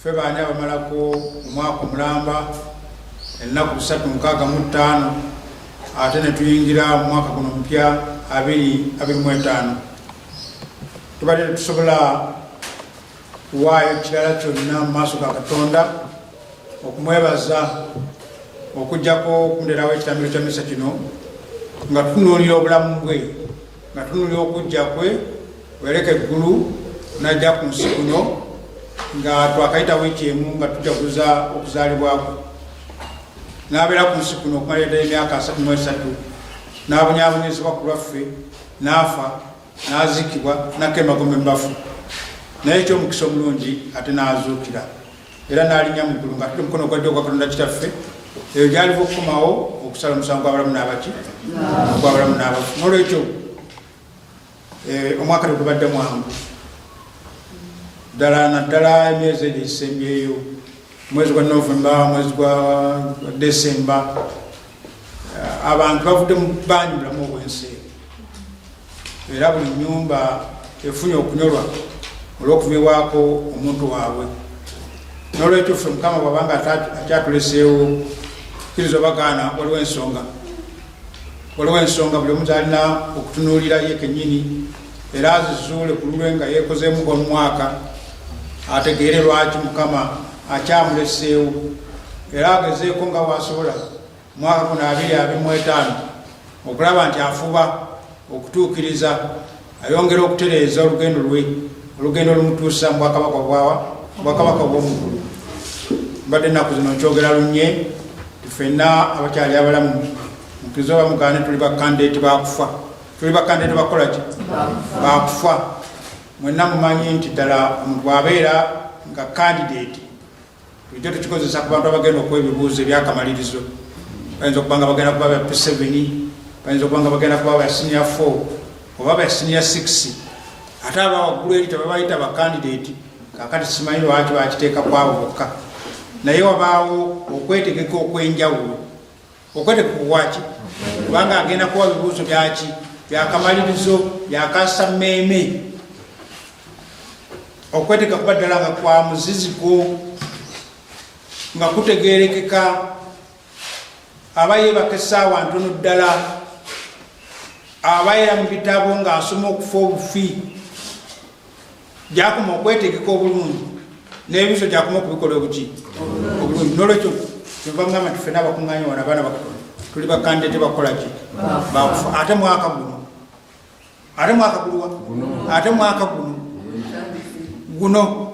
ffe baani abamalako omwaka omulamba ennaku busatu mukaaga mu ttaano ate ne tuyingira mu mwaka guno omupya abiri abiri mu etaano tubadde tetusobola kuwaayo kirala kyonna mu maaso ga katonda okumwebaza okugyako okunderawo ekitambiro kya misa kino nga tutunuulira obulamu bwe nga tunulira okujja kwe wereka eggulu najja ku nsi kuno nga twakayita wiiki emu nga tujaguza okuzaalibwakwe n'abeera ku nsi kuno okumala eddayo emyaka asatu mu esatu n'abonyaabonyezebwa ku lwaffe n'afa n'aziikibwa nakka emagombe mu bafu naye ekyomukisa omulungi ate n'azuukira era n'alinya mu ggulu ng'atudde omukono ogwa ddyo ogwa katonda kitaffe eyo gyaliva okukomawo okusala omusango gw'abalamu n'abaki ogw'abalamu n'abafu n'olwekyo eh, omwaka tegubadde mwangu ddala naddala emyezi egyo egisembyeyo omwezi gwa novemba omwezi gwa desemba eh, abantu bavudde mu bangi bulamu obwensi era buli nyumba efunye okunyolwa olw'okumibwako omuntu waabwe n'olwekyo ffe mukama bwabanga akyatuleseewo kiriza bagaana waliwo ensonga waliwo ensonga buli omu zalina okutunuulira ye kenyini era azizuule ku lulwe nga yeekozeemu omwaka ategeere lwaki mukama akyamuleseewo era agezeeko nga waasobola mwaka guno abiri abiri mu etaano okulaba nti afuba okutuukiriza ayongera okutereeza olugendo lwe olugendo olumutuusa mu bwakabaka bwawa bwakabaka bwomukulu mbadde ennaku zino nkyogera lunye tufenna abakyali abalamu mutuze oba mugane tuli bakandeeti bakufa tuli bakandeeti bakukola ki bakufa mwenna mumanyi nti ddala omuntu abeera nga kandideeti Bulijjo tukikozesa ku bantu abagenda okuwa ebibuuzo ebyakamalirizo. Bayinza okuba nga bagenda kuba ba P7, bayinza okuba nga bagenda kuba ba senior 4 oba ba senior 6 ate aba waggulu eri tebabayita bakandidate kakati simanyi lwaki bakiteeka kwabo bokka naye wabaawo okwetegeka okwenjawulo okwete kukuwaki kubanga agenda kuwa bibuuzo byaki byakamalirizo byakasa mmeeme okweteka kuba ddala nga kwa muziziko nga kutegerekeka aba yebaka esaawa ntono ddala abaera mu bitabo ng'asoma okufa obufi gyakoma okwetegeka obulungi n'ebiso gyakoma okubikola obuki obulungi nolwekyo kyova mugamba nti fena abakuŋŋanya wano abaana bakatonda tuli bakande tebakola ki bakufa ate mwaka guno ate mwaka guluwa ate mwaka guno guno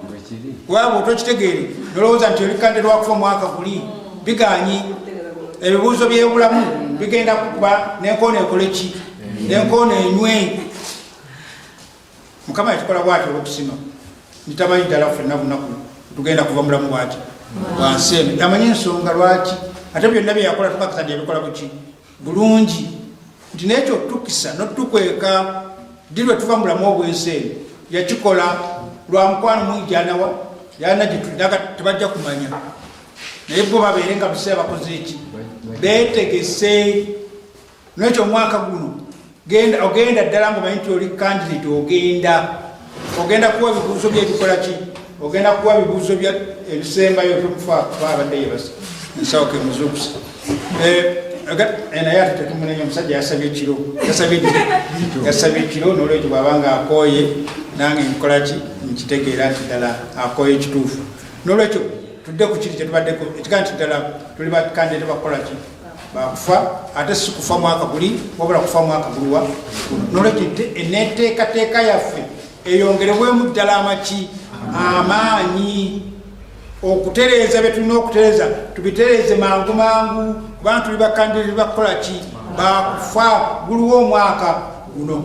waba otokitegeere nolowooza nti oli kande lwakufa omwaka guli biganyi ebibuuzo byebulamu bigenda kukuba nenkoona ekole ki nenkoona enywe mukama yakikola bwati olwokusima nitamanyi ddala fenna lunaku tugenda kuva mulamu bwati wansi eno amanyi ensonga lwaki ate byonna byeyakola tukakisa nti yabikola buki bulungi nti nekyo otutukisa notukweka ddi lwe tuva mulamu obwensi eno yakikola lwa mukwano mungi gyanawa yana gyetulinaga tebajja kumanya naye bo babeere nga biseera bakoze eki betegese Nekyo mwaka guno genda ogenda ddala nga omanyi nti oli candidate ogenda ogenda kuwa bibuuzo byebikola ki ogenda kuwa bibuuzo bya ebisembayo byokufaabaabadde yebasa nsawo ke muzukusa eh, eh, naye ate tetumunenya omusajja yasabye ekiro yasabye ekiro nolwekyo bwaba nga akooye nange nkola ki nkitegeera nti ddala akooye ekituufu nolwekyo tudde ku kiri kyetubaddeko ekigaa nti ddala tuli bakandidate bakukola ki bakufa ate sikufa mwaka guli wabula kufa mwaka gulwa nolwekyo eneteekateeka yaffe eyongerebwemu ddala amaki amaanyi okutereeza byetulina okutereeza tubitereeze mangu mangu kubanga tuli bakandirizi bakukola ki bakufa guliwo omwaka guno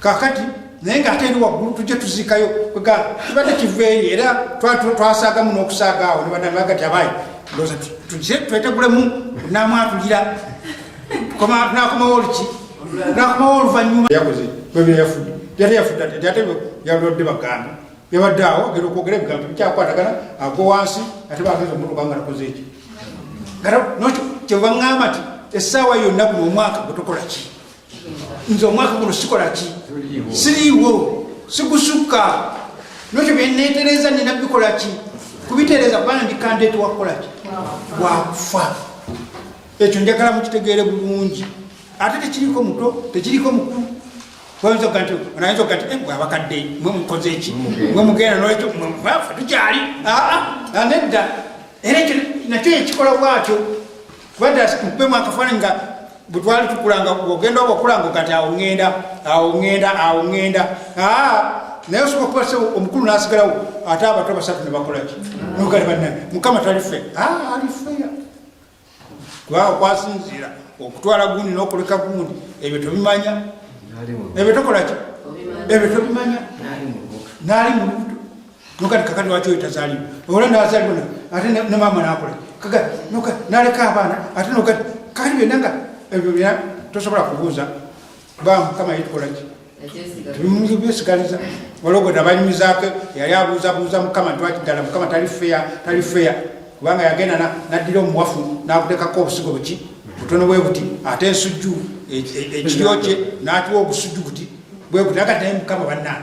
kakati naye nga ate eri waggulu tujja tuziikayo kibadde kiveeyo era twasaagamu n'okusaaga awo nebadamagati abaayi ndoza tujje twetegulemu namwatulira nakomawo oluki nakomawo oluvanyuma yakoze bwebyo yafudde yali yafudde ate ate yalodde baganda yabadde awo gera okwogera ebigambo bikyakwatagana agwa wansi ate bageza omutuka nga nakoze ekyo nokyo kyebaŋŋamba ti essaawa yonna guno omwaka gutukola ki nze omwaka guno sikola ki siriiwo sigusukka nokyo byenetereza nina bikola ki kubitereza kubanga ndikandeeti wakukola ki wakufa ekyo njagala mukitegeere bulungi ate tekiriko muto tekiriko mukulu oyinza okuga nti onayinza okuga nti eh, bwabakadde mwe mukoze eki mwe mugenda nolwekyo mwemubafa tukyali aa ah, ah, nedda era ekyo nakyo yekikola bwakyo kubanga mupemu akafaananyi nga bwe twali tukulanga ogenda oba okulanga kati awo ŋŋenda awo ŋŋenda awo ŋŋenda naye osobola kuba sebo omukulu n'asigalawo ate abato basatu ne bakola ki nogale banna mukama tali fe ali feya kubanga kwasinziira okutwala gundi n'okuleka gundi ebyo tobimanya ebyo tokola ki ebyo tobimanya naali mu lubuto nokati kaka lwaki oyo tazaliwo ola nazaliwo ate ne maama nakola kaka noka naleka abaana ate nokati kati byonna nga ebyo bya tosobola kubuuza ba mukama yitukolaki tebimuyinza byesigaliza walogoda banyumizaako yali abuuzabuuza mukama ntwaki ddala mukama tali feya tali feya kubanga yagenda naddira omuwafu nakutekako obusigo buki butono bwe buti ate ensujju e, e, ekiryo kye natuwa obusujju buti bwe buti agataye mukama bannaa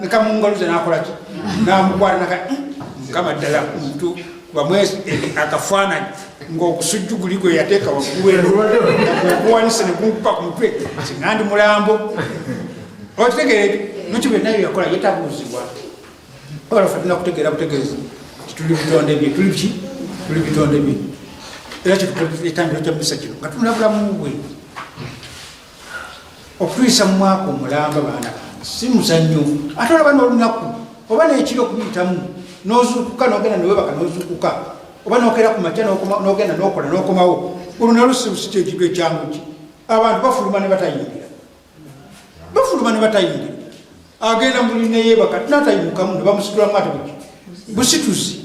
nekamungaluza nakolaki namukwata naka eh, mukama ddala omuntu bamwezi eh, akafaananyi ngaokusujju guli gwe yateeka waggulueokuwanisa negunkupa ku mutwe singa ndi mulambo okitegere nokyo byonna byo yakola yetabuuzibwa ola fe tulina kutegeera butegeezi tituli bitonde bye tuli ki tuli bitonde bye era kyetutambiro kya misa kino nga tunula bulamu bwe okutuyisa mu mwaka omulamba baana bange si muzannyo ate olaba n'olunaku oba n'ekiro okuyitamu n'ozuukuka n'ogenda newebaka n'ozuukuka oba n'okeera ku makya n'ogenda n'okola n'okomawo olunalu sibusi kyekigo ekyanguki abantu bafuluma ne batayingira bafuluma ne batayingira agenda muli neyebaka natayimukamu ne bamusitulamu ate buki busituzi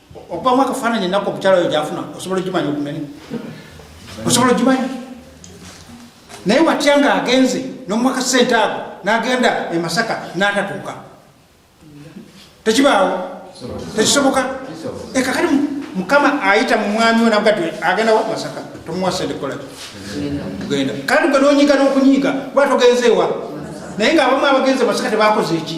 okubamu akafaananyi ennaku omukyala oyo gyafuna osobola ogimanya okumene osobola ogimanya naye watya nga agenze nomwaka sente ago nagenda emasaka natatuuka tekibaawo tekisoboka ekakali mukama ayita mumwami onagati agenda wa masaka tomuwa sente kolaki genda kandi gwe nonyiga nokunyiga lwatogenzeewa naye nga abamu abagenze masaka tebakoze eki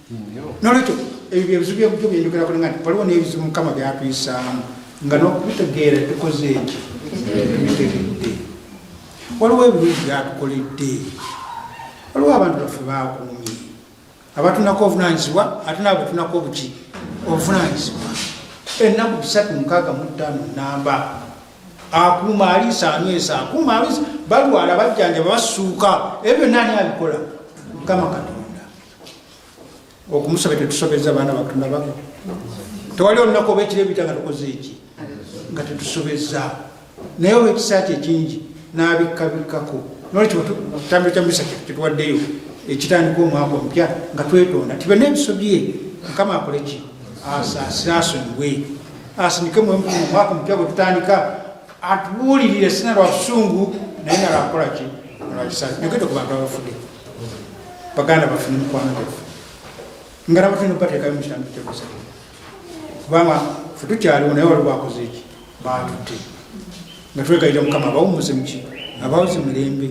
nolwekyo ebyo byebizibu byebujo byenjogerako nga waliwo nebizibu mukama byatuyisaamu nga nokubitegeera tukoze eki tubitegedde waliwo ebirungi byatukoledde waliwo abantu baffe bakuumye abatunako obuvunanyizibwa ate nabo batunako obuki obuvunanyizibwa ennaku bisatu mukaaga muttaano namba akuuma aliisa anywesa akuuma aliisa balwala bajjanjaba basuuka ebyo byonna ani abikola mukama katonda okumusaba tetusobeza baana batunababo tewali olunaku oba ekiro ebita nga tukoze eki nga tetusobeza naye oba ekisa kye kingi n'abikkabikako nolwekyo kitambiro kya misa kyetuwaddeyo ekitandika omwaka omupya nga twetonda tibe n'ebiso bye mukama akoleki asaasire asonyiwe asindike omwaka omupya bwe tutandika atubuulirire sina lwa busungu naye nalwakukolaki nolwakisa yogedde ku bantu abafudde baganda baffe ne mikwano gyaffe nga nabo tulina okubateekayo mu kitambo kyebusa kubanga fe tukyaliwo naye wali bakoze eki batutte nga twegayira mukama abawumuze muki abawuze mirembe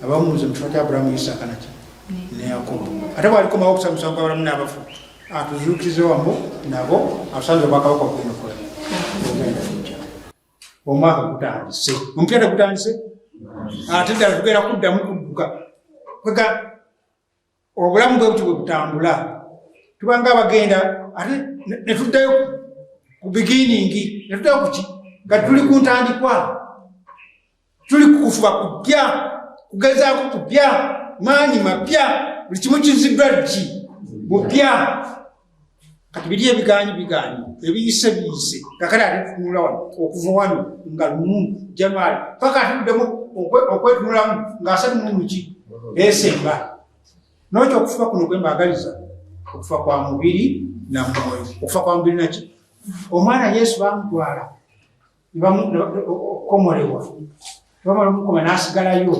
abawumuze mu kifo kya aburahamu yisaaka naki ne yakobo ate bwalikomawo okusa musango abalamu n'abafu atuzuukirize wamu nabo atusanze obwakabaka obwinokola ogenda kujja omwaka gutandise omupiira tegutandise ate ddala tugenda kuddamu kudduka kwega obulamu bwe buti bwe butambula tubanga abagenda ate ne tuddayo ku bigiiningi ne tuddayo kuki nga tuli ku ntandikwa tuli kukufuba kupya kugezaako kupya maanyi mapya buli kimu kiziddwa ddi bupya kati biri ebigaanyi bigaanyi ebiyise biyise kakale ate tutunula wano okuva wano nga lumu january paka atuddemu okwetunulamu ng'asatu mumuki esemba nokyo okufuba kuno kwe mbaagaliza okufa kwa mubiri na mwoyo okufa kwa mubiri naki omwana yesu bamutwala okukomolebwa nebamala omukoma nasigalayo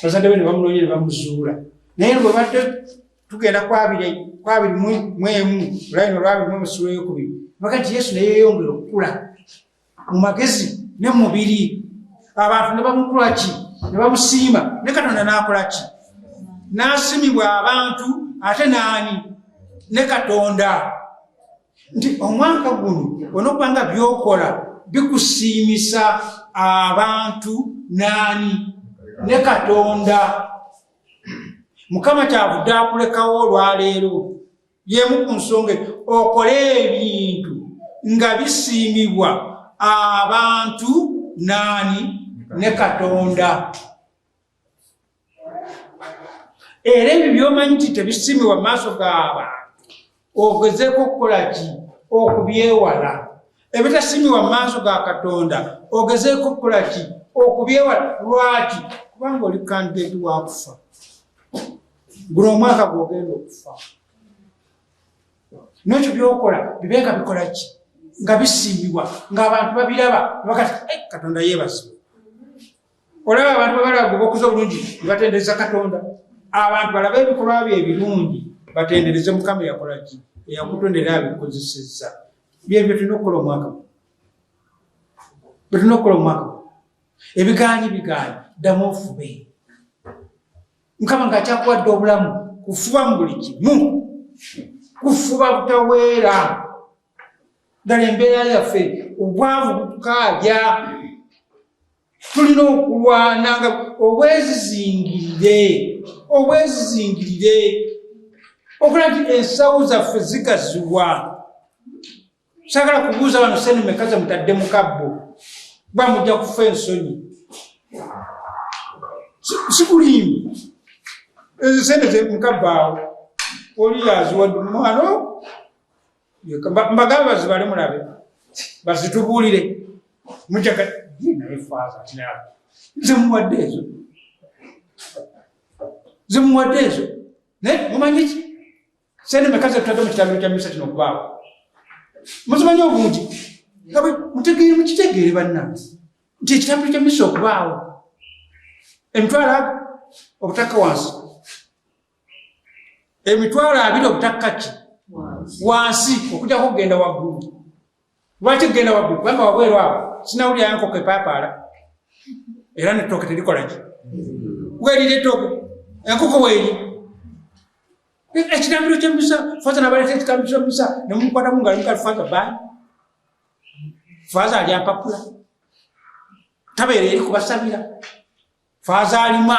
bazadde be nebamunonya nebamuzuula naye bwebadde tugenda kwabiri kwabiri mwemu olabina olwabiri mwemu sula yokubiri baga nti yesu naye yeyongera okukula mu magezi ne mumubiri abantu nebamukulaki nebamusiima ne katonda nakolaki nasimibwa abantu ate naani ne katonda nti omwaka guno onokuba nga byokola bikusiimisa abantu naani ne katonda mukama kyavudde akulekawo olwaleero yemu ku nsonga okole ebintu nga bisiimibwa abantu naani ne katonda era ebyo byomanyi nti tebisiimibwa mu maaso g'abantu ogezeeko okukola ki okubyewala ebitasiimibwa mu maaso ga katonda ogezeeko okukola ki okubyewala lwaki kubanga oli kandidati wakufa guno omwaka gwogenda okufa nekyo byokola bibenga bikola ki nga bisiimibwa ngaabantu babiraba bakati eh, katonda yeebazibwa olaba abantu bebalaga obukuza obulungi nebatendereza katonda abantu balaba ebikolwa byo ebirungi batendereze mukama eyakolaki eyakutondera abikozeseza byebyo tulina okukola omwaka byetulina okukola omwaka ebiganyi biganyi ddamu ofube mukama nga akyakuwadde obulamu kufuba mu buli kimu kufuba butaweera ddala embeera yaffe obwavu butukaabya tulina okulwana nga obwezizingirire obwezizingirire okola nti ensawo zaffe zigaziwa sagala kubuuza bano sente meka ze mutadde mu kabbo kuba mujja kufa ensonyi sikulimbi ezo sente ze mukabbaawo oli yaziwadde omwana mbagala bazibale mulabe bazitubuulire mujaga naye faaza tinaa nze muwadde ezo nze muwadde ezo naye mumanyi ki sente meka zetutadde mu kitambiro kya misa kino okubaawo muzimanyi obungi nga mutegeere mukitegeere bannange nti ekitambiro kya misa okubaawo emitwalo obutaka wansi emitwalo abiri obutakka ki wansi okujako okugenda waggulu lwaki kugenda waggulu kubanga wabweru awo sinawulirayo nkoko epaapaala era netooke terikola ki werira etooke enkoko weeri ekitambiro kyemusa faza nabaleta ekitambiro kyemusa nemukwata mungalo mukali faza bani faza ali ampapula tabeera eri kubasabira faza alima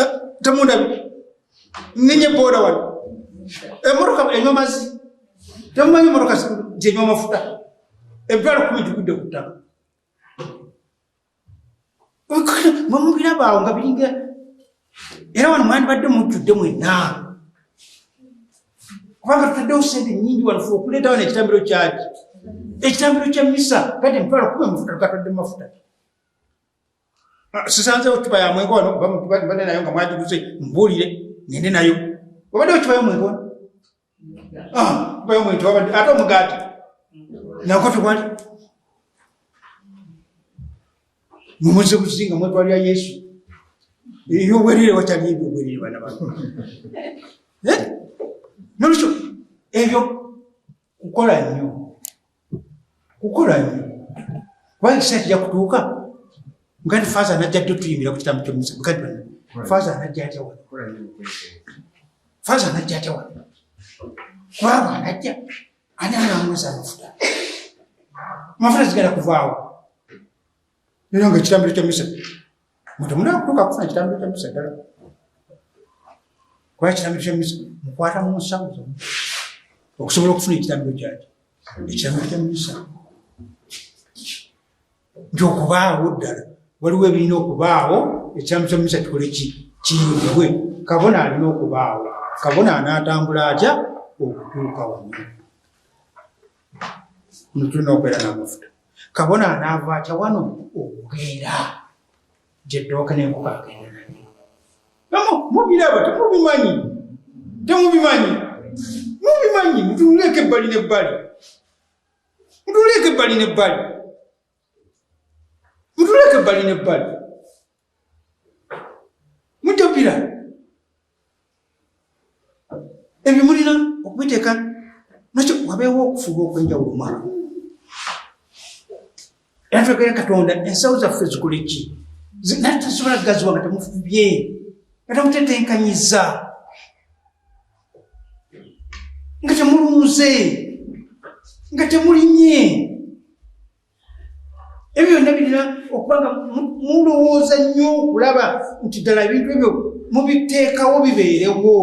eh, temundabi ninye boda wano emoroka eh, enywa mazi temumanyi emoroka gyenywa amafuta ebitwalo kumi gikudde ku ttaka mwemubira baawo nga biringa era wano mwandibadde mujjudde mwenna kubanga tutaddewo sente nyingi wano fe okuleetawo nekitambiro kyaki ekitambiro kya misa kati emitwalo kumi amafuta tukatadde mafuta Ah, sisanze otuba ya mweko wano kuba mutuba mbade nayo nga mwajiguze mbulire ngende nayo obadde otuba ya mweko ah, kuba ya mweko wabadde ate omugaati nako tewali mumuze kuzinga mwetwalira yesu eyo obwerire watali ebyo obwerire bana bano eh? nolwekyo ebyo kukola nnyo kukola nnyo kubanga ekiseera kijja kutuuka mugandi faaza anajja jjo tuyimbira ku kitamu kyomusa mugandi bana faaza anajja atya wano faaza anajja atya wano kubanga anajja ani anamweza amafuta amafuta zigala kuvaawo Nyo nga kitambiro kya misa. Mtu muna kutuka kufuna kitambiro kya misa dala. Kwa kitambiro kya misa. Mkwata mu nsamu zomu. Okusobola okufuna ekitambiro kyaki. Ekitambiro kya misa. Nyo okubaawo dala. Waliwo ebirina okubaawo. Ekitambiro kya misa kikole ki. Kiyuwe. Kabona alina okubaawo. Kabona anatambula aja. Okutuka wanyuma. Mtu nopera na mafuta. kabona anaava atya wano okugenda gyeddooka nenkuka agenda nayo mubiraba temubimanyi temubimanyi mubimanyi mutunuleeko ebbali nebbali mutunuleeko ebbali nebbali mutunuleeko ebbali nebbali mutapira ebyo mulina okubiteeka nakyo wabeewo okufuba okwenjawulo mwana era twekere katonda ensawo zaffe zikole ki naye tasobola gaziwa nga temufubye nga temutetenkanyiza nga temulunze nga temulinye ebyo byonna birina okuba nga mulowooza nnyo okulaba nti ddala ebintu ebyo mubiteekawo bibeerewo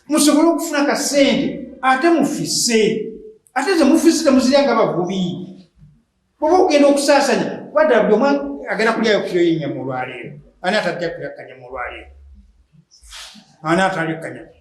musobole okufuna kasente ate mufise ate ze mufise temuzirya nga bavubi oba okugenda okusaasanya wadala buli omwa agenda kulyayo kiro yenyama olwaleero ani atajja kulya kanyama olwaleero ani atali kanyama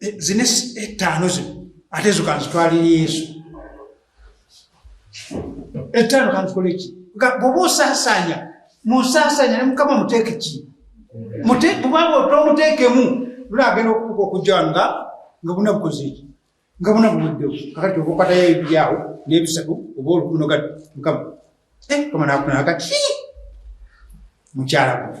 eh, zine ettaano eh, zino ate zo kanzitwalira yesu ettaano eh, kanzikole ki bwoba osaasaanya munsaasaanya ne mukama muteeke ki bubanga otomuteekemu lula agenda okukuka okujja wano nga nga buna bukoze eki nga buna buweddewo kakati okukatayo ebiryawo n'ebisatu oba olukuno gati mukama kama nakunaka ki mukyala gwe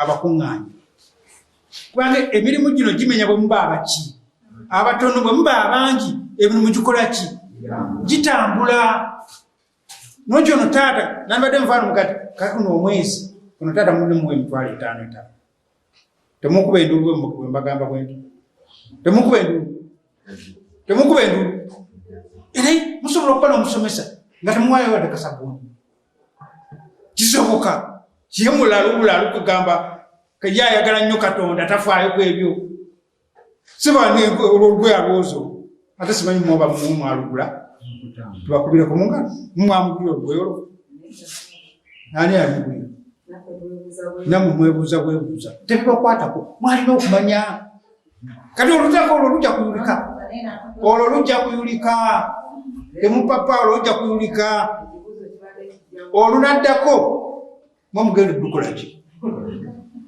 abakuŋŋaanya kubanga emirimu gino gimenya bwe muba abaki abatono bwe muba abangi emirimu gikola ki gitambula nokyo no taata nambadde mufaano mugati katuno omwezi ono taata mulimuwa emitwalo etaano etaano temukuba endulu bwembagamba bwenti temukuba endulu temukuba endulu era musobola okuba nomusomesa nga temuwayo wadde kasabuni kisoboka ye mulalu bulalu kugamba ye ayagala nnyo katonda tafaayo ku ebyo sibaolwolweyalwozo ate simanyi mwoba mwalugula tubakubire ku mungalo mumwamugulira olweyolo ani amugulira namwe mwebuuza bwebuuza tebibakwatako mwalina okumanya kati olutako olwo lujja kuyulika olwo lujja kuyulika emupapa olwo lujja kuyulika olunaddako mwe mugenda dukolaki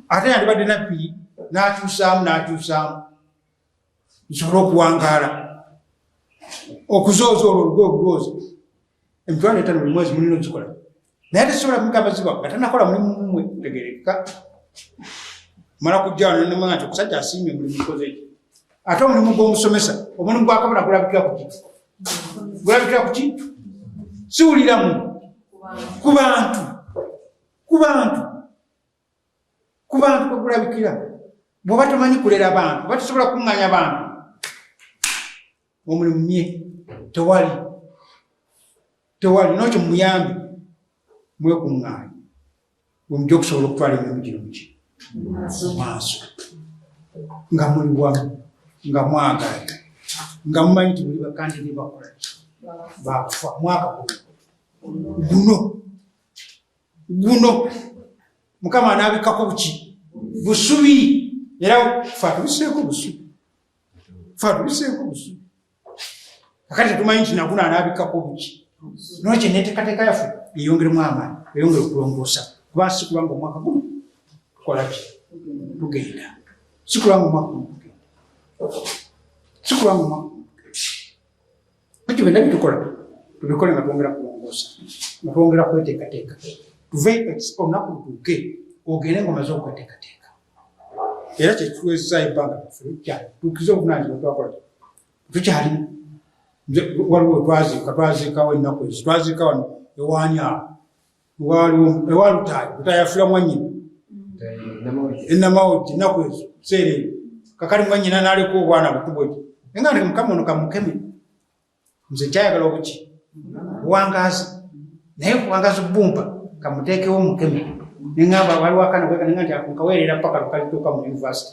ate yandibadde nabbi n'akyusaamu n'akyusaamu nsobole okuwangaala okuzooza olwo olugoozi emitwalo etano buli mwezi mulina okikola naye tesobola kumugamba ziba nga tanakola mulimu mumwe tegereka mala kujjawo nenemanya nti okusajja asiimye omulimu mukoze ekyo ate omulimu gw'omusomesa omulimu gwakabona gulabikira kuki gulabikira kuki siwuliramu ku bantu ku bantu ku bantu kwe kulabikira. Bw'oba tomanyi kulera bantu, oba tosobola kukuŋŋanya bantu, omulimu mye tewali tewali nokyo muyambi mwekuŋŋaanya wemujja okusobola okutwala emirimu gino muki maaso nga muli wamu nga mwagala nga mumanyi nti muli bakandi ne bakola bakufa mwaka guno guno mukama anabikako buki busubi era fatubiseeko busubi fatubiseeko busubi akati tetumanyi nti naguno anabikako buki nokye netekateka yafe eyongeremu amaani eyongere okulongoosa kuba sikulanga omwaka guno tukolaki tugenda sikulanga omwaka guno tugenda sikulanga omwaka guno tugenda Ekyo byonna bitukola tubikole nga twongera kulongoosa nga twongera kweteekateeka tuve olunaku lutuuke ogende nga omaze okweteekateeka era kyekiwezesa ebbanga lyaffe lukyali tuukize obuvunanyizibwa twakola tukyali waliwo twaziika twaziikawo ennaku ezo twaziika wano ewaani awo ewa lutaaya lutaaya afula mwanyina enamawojji enaku ezo seera eyo kakali mwanyina naleka obwana butubweki naye nga mukama ono kamukeme nze kyayagala okuki buwangazi naye buwangazi bumpa kamuteekewo mukeme nengamba waliwo akana kweka nenga nti akunkaweerera paka lukalituuka mu univesity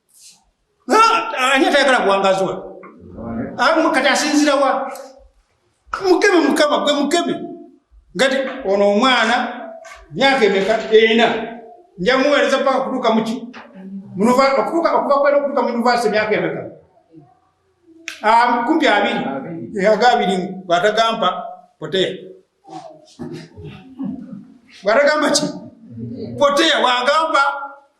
ani atayagala buwangazi we kati asinzira wa mukeme mukama gwe mukeme ngati ono omwana myaka emeka ena njamuweereza paka kutuuka muki okutuuka okuva kwena okutuuka mu univasite myaka emeka kumpi abiri aga abiri bwatagampa poteya bwatagamba ki poteya bwagamba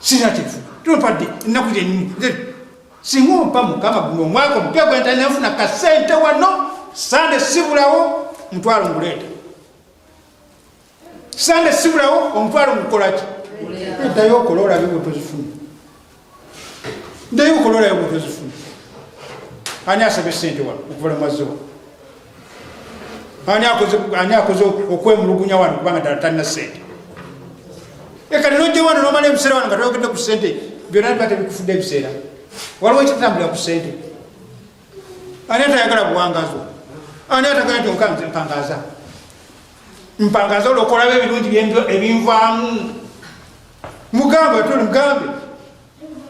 sirina kyenfuna tupadde ennaku gyenyini singa ompa mukama guno omwaka omupya gwentalina nfuna kasente wano sande sibulawo mutwalo nguleeta sande sibulawo omutwalo ngukolaki eddayo okola olabe bwetozifuna eddayo okola olabe bwetozifuna ani asabye sente wano okuvala maziwa ani akoze ani akoze okwemulugunya wano kubanga dala talina sente eka lero ojja wano nomala ebiseera wano nga toyogedde ku sente byonna biba tebikufudde ebiseera waliwo ekitambulira ku sente ani atayagala buwangazo ani atagala nti okanze mpangaza mpangaza olwokolaba ebirungi ebinvaamu mugambe tuli mugambe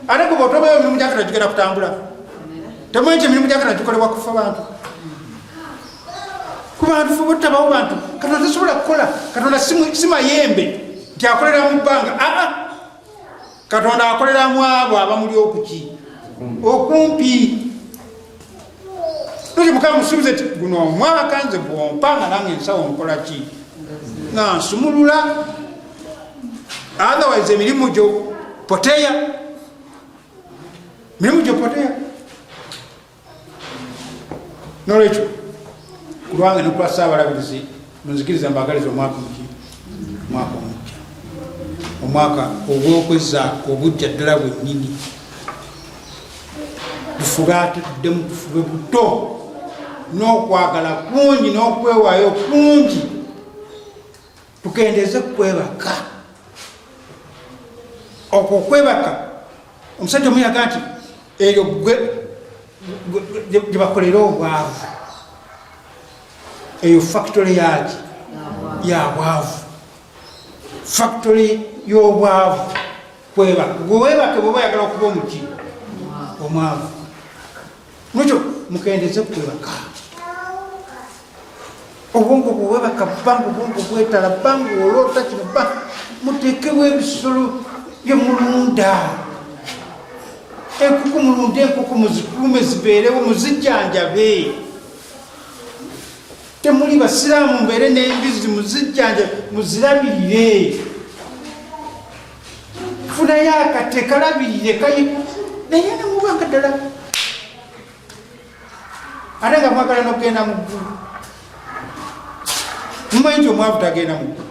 ate kuba otobayo emirimu gyakana gigenda kutambula temanyi ti emirimu gyakana gikolebwa kufa bantu kubantu fe butabawo bantu katonda tasobola kukola katonda simayembe nti akolera mu bbanga aa ah, ah. katonda akolera mu abo abamuli okuki okumpi mukama musuubize ti guno omwaka nze gwompanga nange ensawo nkola ki nga nsumulula otherwise emirimu gyo poteya mirimu gyo poteya nolwekyo kulwange nokulwa saabalabirizi Munzikiriza mbagaliza omwaka omuki omwaka omujja omwaka ogwokweza obujja ddala bwennyini tufube ate tuddemu tufube buto n'okwagala kungi n'okwewaayo kungi tukendeze kukwebaka okwo okwebaka omusajja omuyaga nti eyo gwe gyebakolera obwavu eyo factory yaki yabwavu factory yobwavu kwebaka gwewebake bwoba oyagala okuba omuti omwavu nokyo mukendeze kwebaka obwongo bwewebaka bangu obwongo bwetala bangu olota kino ba mutekewo ebisolo byemulunda enkuku mulunde enkuku muzikuume zibeerewo muzijjanjabe temuli basiraamu mbeere n'embizi muzijjanja muzirabirire funayo akate kalabirire kayi naye nemuba nga ddala ate nga mwagala nokugenda mu ggulu mumanyi nti omwavu tagenda mu ggulu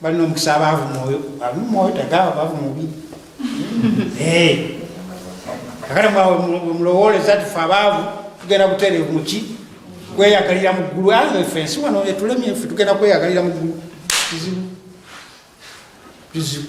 balina omukisa abaavu mwoyo ali mumwoyo tagaaba baavu mubi kakati mwemulowooleza tufe abaavu tugenda kutereevu muki kweyagalira mu ggulu ayo efe ensi wano etulemye efe tugenda kweyagalira mu ggulu kizibu kizibu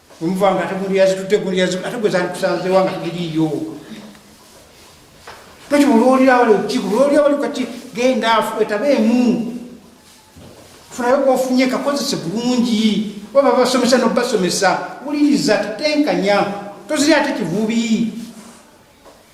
Omuva nga ate gundi yazitutte gundi yazitutte ate gwe zandikusanzeewo nga tugiriiyo. Toki mulwolira wali olukiiko mulwolira wali kati genda afu etaba emu funayo kofunye kakozese bulungi oba babasomesa nobasomesa wuliriza tetenkanya toziri ate kivubi